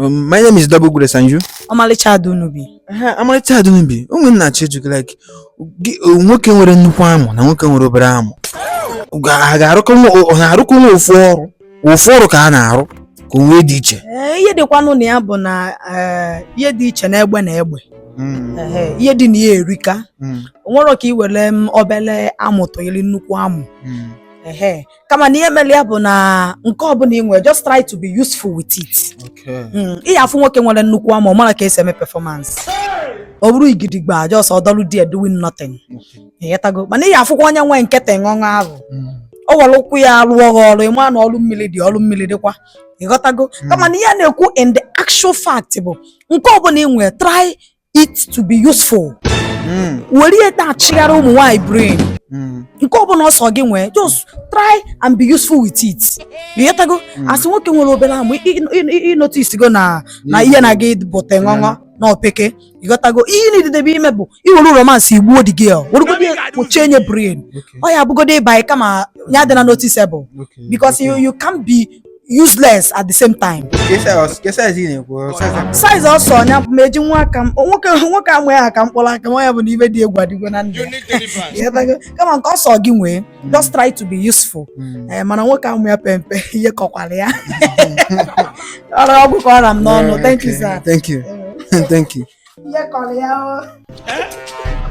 Um, my name is Double Grace and you? Ọmalịcha Adunubi. Ọmalịcha Adunubi, o nwe ihe m na-achọ ịjụ gị like uh, nwoke nwere nnukwu amụ na nwoke nwere obere amụ. Ha ga-arụkọ nwa ofu ọrụ, ofu ọrụ ka a na-arụ ka o nwe ihe dị iche. Eh, ihe dịkwanụ na ya bụ na eh, ihe dị iche na egbe na egbe. Hmm. ihe dị na ya erika hmm. o nwerọ ka ị were mm, obele amụ tụnyere nnukwu amụ hmm. kama na ihe mere ya bụ na nke ọbụla ị nwere just try to be useful with it Okay. Mm, ị ya afụ nwoke nwere nnukwu amụ ọ mara ka esi eme performance ọ bụrụ igidigba just ọ dọlụ there doing nothing ịghọtago mana ị ya afụkwa onye nwe nke teṅụṅụ ahụ o were ukwu ya rụọ gị ọrụ ị ma na ọrụ mmiri dị ọrụ mmiri dịkwa ịghọtago kama na ihe a na-ekwu in the actual fact bụ nke ọbụla ị nwere try it to be useful hmm. were ya na-achịgharị ụmụ nwanyị brain hmm. nke ọ bụla ọ sọ gị nwee just try and be useful with it ịghọtago hmm. a sị nwoke nwere obere amụ ị noticego na na ihe na gị bụ teṅọṅọ na o peka ịghọtago ihe na-edidebe ime bụ ị were romance gbuo the girl werugodi kpuchie nya brain ọ ya abụgodi ịba kama ya dị na noticeable because you can't be useless at the same time size ọ sọ nya ma eji nwa aka m nwoke nwoke amụ ya ha ka mkpụrụ aka nwa ya bụ na ive dị egwu adịgo na ndụ ya kama nke ọ sọ gị nwee mm. just try to be useful mm. eh, mana nwoke amụ ya pe mpe ihe kọkwara ya o, ọ gwụ ka ọ ra m n'ọnụ thank you sir thank you thank you ihe kọrọ ya o oh. eh?